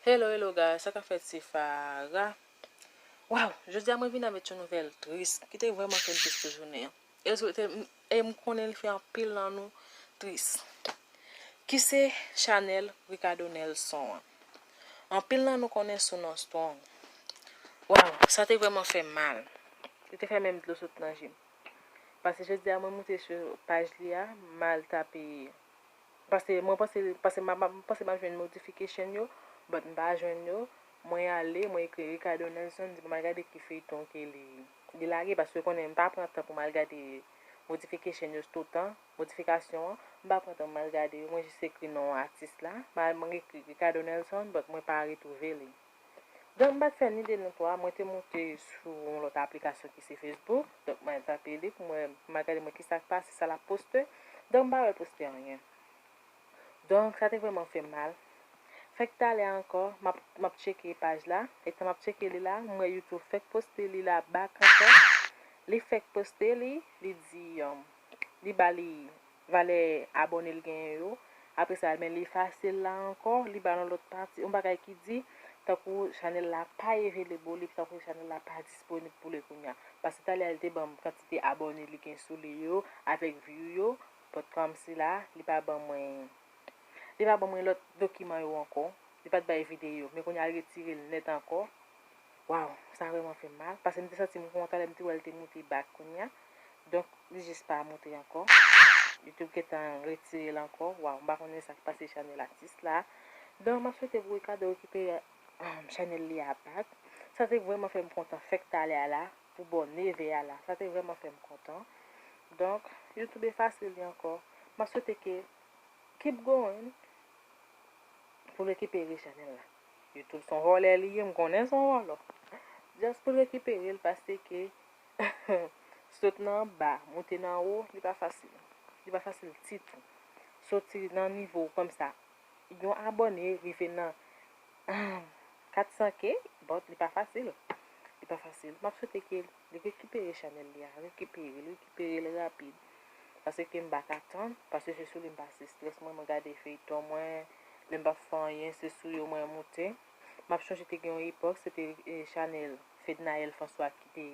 Hello hello guys sa ka fèt se Farah Waww jodi a mwen vin avèt yon nouvèl tris ki te vrèman fèm tris pou jounen an e l swete m e m konnen li fè anpil nan nou tris ki se chanèl Ricardo Nelson an anpil nan nou konnen sou non Strong Waww sa te vrèman fèm mal li te fè menm dlo sot nan je m pase jodi a mwen moute sou paj li a m al tape Pase mwen panse pase m panse map jwenn notification yo but m pa jwenn yo mwen ale mwen ekri Ricardo Nelson di pou mal gade ki feyton ke li li lage paske ou konnen m pa pran tan pou mal gade motification yo stotan motifikasyon an m pa pran tan pou mal gade yo mwen jis ekri non atis la mwen ekri Ricardo Nelson but mwen pa retwouve li. Donk m pat fè ni 2 ni 3, mwen te moute sou yon lòt aplikasyon ki se Facebook, donk mwen al tape li pou mwen, pou mwen gade mwen kisa k pase, sa lap poste, donk m pa wè l poste anyen. Donk sa te vrèman fè m mal. Fèk talè a ankò, map, map tcheke paj la, etan map tcheke li la, m wè YouTube fèk poste li la back ankò, li fèk poste li, li di, li ba li. valè abòne l genyen yo apre sa men l efase l la ankò li ba nou lòt pati yon bagay ki di tankou chanèl la pa evelebo li tankou chanèl la pa disponib pou le kounya paske talè a li te banm kantite abòne li gen sou li yo avèk view yo but kòmsi la li pa ban mwen li pa ban mwen lòt dokiman yo ankò li pat bay videyo men kounya l retire l nèt ankò Waww sa vrèman fèm mal pase m te santim kontan lèm te wèl te moute back kounya donk li jis pa moute ankò youtube gentan retirel ankò waww m pa konnen sak pase chanèl atis la donk map swete pou Ricardo rekipere chanèl li a back sa te vrèman fèm kontan fèk talè a la pou bò 9 è a la sa te vrèman fèm kontan donk youtube efase li ankò map swete ke keep going poul rekipere chanèl la. Youtube son vòlè li ye m konnen son vòlò just poul rekiperel paseke sot nan anba moute nan wo li pa fasil li pa fasil ditou soti nan nivo komsa yon abòne rive nan 400 k but li pa fasil li pa fasil map swete ke Li rekipere chanèl li a, rekiperel, rekiperel rapid. Pasekem paka tann, pase se sou li m pase strès mwen, mwen gade feyton mwen, lèm pap fè anyen se sou yo mwen moute. Map chonje te gen yon epòk se te chanèl Fednaelle François ki te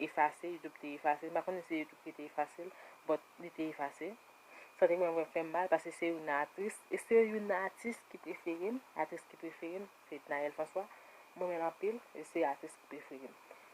efase, youtube te efase, m pa konnen se youtube ki te efasel, but li te efase. Sa te vrèman vrèman fèm mal, pase se youn nan atris, e se youn nan atis ki preferem, atris ki preferem, Fednaelle François, m renmenl anpil, e se atris ki preferem.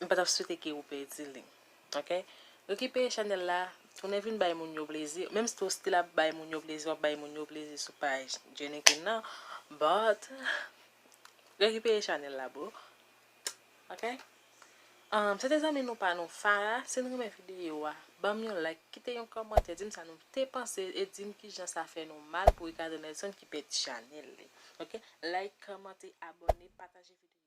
M pa tap swete ke ou pèdi li ok rekipere chanèl la tounen vin bay moun yo plezi menm si ou stil ap bay moun yo plezi wap bay moun yo plezi sou paj Jenny Queen nan but rekipere chanèl la boo ok um se te zanmi nou pa nou Farah si nou renmen videyo a banm yon like kite yon kòmantè dim sa nou te panse e dim kijan sa fè nou mal pou Ricardo Nelson ki pèdi chanèl li ok like kòmante abòne pataje videyo a.